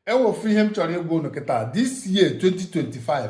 enwefu ihe m chọrọ ịgwa unu kịta this year 2025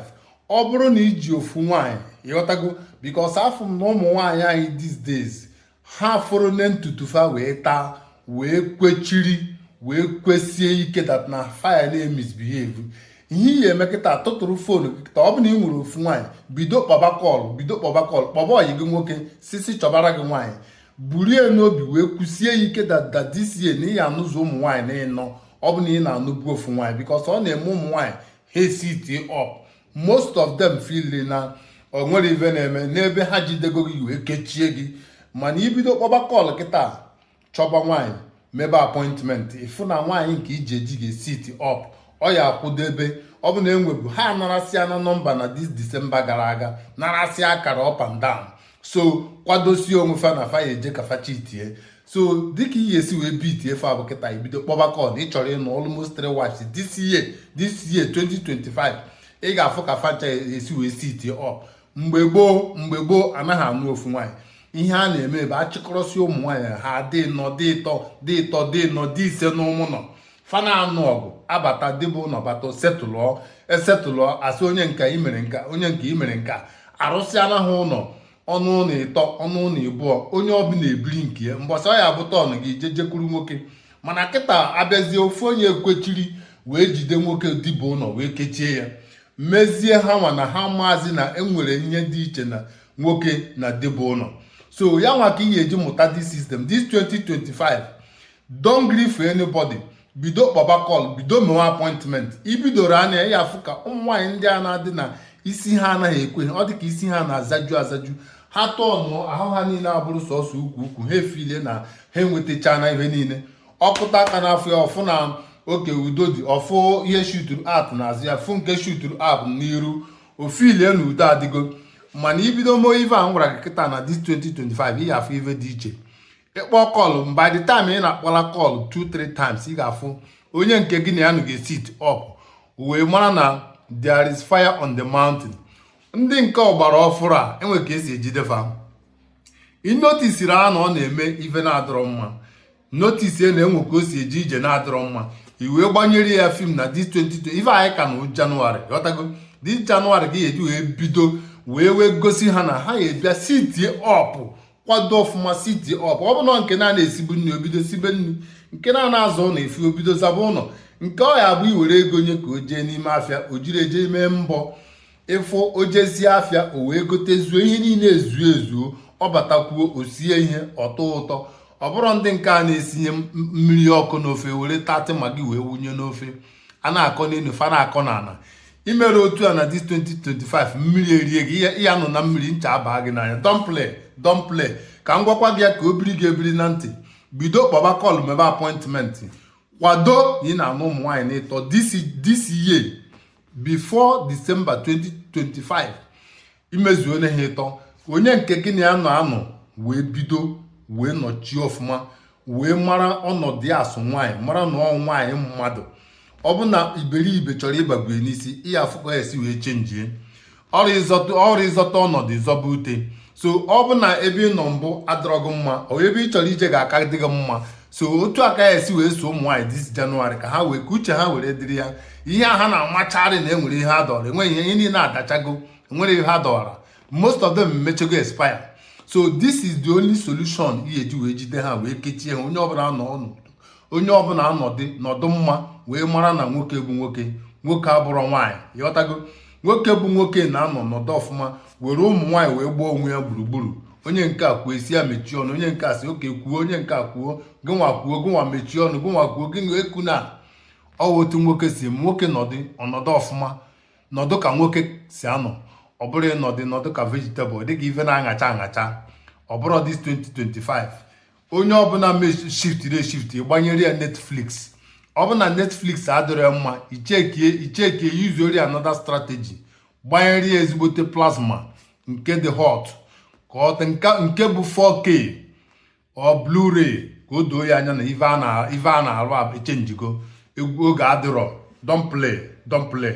ọ bụrụ na i ji ofu nwaanyị ị ghọtago because afụ m na ụmụ nwaanyị anyị these days ha fụrụ na ntutu fa wee taa wee kwechiri wee kwesie ike that na fa ya na-emisbehave ihe ị ya-eme kịta tụtụrụ phone gị kịta ọ bụrụ na ị nwere ofu nwaanyị bido kpọba call bido kpọba call kpọba ọyị gị nwoke sị sị chọbara gị nwaanyị burie n'obi wee kwusie ike that this year na ị ya-anụzi ụmụ nwaanyị na ịnọ ọ bụ na ị na-anụbu ofu nwaanyị because ọ na-eme ụmụ nwaanyị ha esit up most of them feel na o nwere ive na-eme n'ebe ha jidego gị wee kechie gị mana i bido kpọba call kịta chọba nwaanyị mebe appointment ị fụ na nwaanyị nke i ji eji ga-esit up ọ ya akwụdebe ọ bụ na enwebu ha narasịana number na this December gara aga narasịa akara up and down so kwadosie onwe fa na fa ya eje ka fa chitie so dịka ị ya-esi wee bitie fa bụ kịta i bido kpọba call ị chọrọ ịnụ almost three wives this year this year 2025 ị ga-afụ ka fa ncha esi wee sit up mgbe gboo mgbe gboo anaghị anụ ofu nwaanyị ihe a na-eme bụ achịkọrọsị ụmụ nwaanyị ha dị ịnọ dị ịtọ dị ịtọ dị ịnọ dị ise n'ime ụnọ fa na-anụ ọgụ abata di bu ụlọ bata setụlụọ esetụlụọ asị onye nke a i mere nke a onye nke a i mere nke a arụsịana ha ụlọ ọnụ ụlọ ịtọ ọnụ ụlọ ịbụọ onye ọbụla ebiri nke ya mbọsị ọ ya bụ turn gị je jekwuru nwoke mana kịta abịazie ofu onye ekwechiri wee jide nwoke di bu ụlọ wee kechie ya mezie ha nwa na ha maazị na enwere ihe dị iche na nwoke na di bu ụlọ so ya nwa ka ị ga-eji mụta this system this 2025 don't gree for anybody bido kpọba call bido mewe appointment i bidoro anya ị ya-afụ ka ụmụ nwaanyị ndị a na-adị na isi ha anaghị ekwe ọ dị ka isi ha na-azaju azaju ha turn ahụ ha niile abụrụ sọsọ ukwu ukwu ha efeele na ha enwetachana ihe niile ọ kụta aka n'afọ ya ọ fụ na oke udo dị ọ fụ ihe shuturu out n'azụ ya fụ nke shuturu out n'iru o feelie na udo adịgo mana i bido mee ive a m gwara gị kịta na this 2025 ị ga-afụ ive dị iche ị kpọọ call by the time ị na-akpọla call 2-3 times ị ga-afụ onye nke gị na ya nọ ga-esit up wee mara na there is fire on the mountain ndị nke ọgbara ọfụrụ a enwe ka esi ejide fa ị noticeri ya na ọ na-eme ive na-adịrọ mma notice ya na enwe ka o si eje ije na-adịrọ mma i wee gbanyere ya film na this 2025 anyị ka nọ January ị ghọtago this January ka ị ya-eji wee bido wee wee gosi ha na ha ga-abịa sitie up kwado ọfụma sitie up ọ bụ na nke na-ana esibu nri o bido sibe nri nke na-ana aza ụlọ efi o bido zaba ụlọ nke ọ ya abụ i were ego nye ka o jee n'ime afịa o jiri ya je mee mbọ ịfụ o jezie afịa o wee gotezuo ihe niile ezuo ezuo ọ batakwuo o sie ihe ọ tọọ ụtọ ọ bụrụ ndị nke a na-esinye mmiri ọkụ n'ofe were thirty maggi wee wunye n'ofe a na-akọ n'elu fa na-akọ n'ala imere otu a na this 2025 mmiri erie gị ị ya-anọ na mmiri ncha abaa gị n'anya don't play don't play ka m gwakwa gị ya ka o biri gị ebiri na ntị bido kpọba call mebe appointment kwado na ị na-anụ ụmụ nwaanyị n'ịtọ this year before December 2025 imezuo na ha ịtọ onye nke gị na ya nọ anọ wee bido wee nọchie ọfụma wee mara ọnọdụ ya as nwaanyị mara na ọ nwaanyị mmadụ ọ bụ na iberibe chọrọ ịbagwe n'isi ị ya-afụ ka ọ ya-esi wee chenjie ọrụ ịzọta ọnọdụ ịzọba ute so ọ bụ na ebe ị nọ mbụ adịrọ gị mma ọ ebe ị chọrọ ije ga-aka dị gị mma so otu a ka ị ya-esi wee so ụmụ nwaanyị this January ka ha wee ka uche ha were dịrị ya ihe a ha na-amacharị na enwere ihe ha dọrọ enweghị ihe niile adachago enwere ihe ha dọwara most of them mechego expire so this is the only solution ị ya-eji wee jide ha wee kechie ha onye ọbụla nọ ọnụ onye ọbụla anọdị nọdụ mma wee mara na nwoke bụ nwoke nwoke abụrọ nwaanyị ịghọtago nwoke bụ nwoke na-anọ nọdụ ọfụma were ụmụ nwaanyị wee gbaa onwe ya gburugburu onye nke a kwuo ị sị ya mechie ọnụ onye nke a sị okay kwuo onye nke a kwuo gịnwa kwuo gịnwa mechie ọnụ gịnwa kwuo gịnwa ekwuna ọwa otu nwoke si nwoke nọdụ ọnọdụ ọfụma nọdụ ka nwoke si anọ ọ bụrọ ịnọdụ nọdụ ka vegetable dịka ife na-aṅacha aṅacha ọ bụrọ this 2025 onye ọbụla shiftiri eshifti gbanyere ya netflix ọ bụ na netflix adịrọ ya mma ichekie ichekie yuzuori another strategy gbanyere ya ezigbote plasma nke dị hot ka ọ nke bụ 4k or blu-ray ka o doo ya anya na ife a na-arụ echenjigo egwu oge adịrọ don't play don't play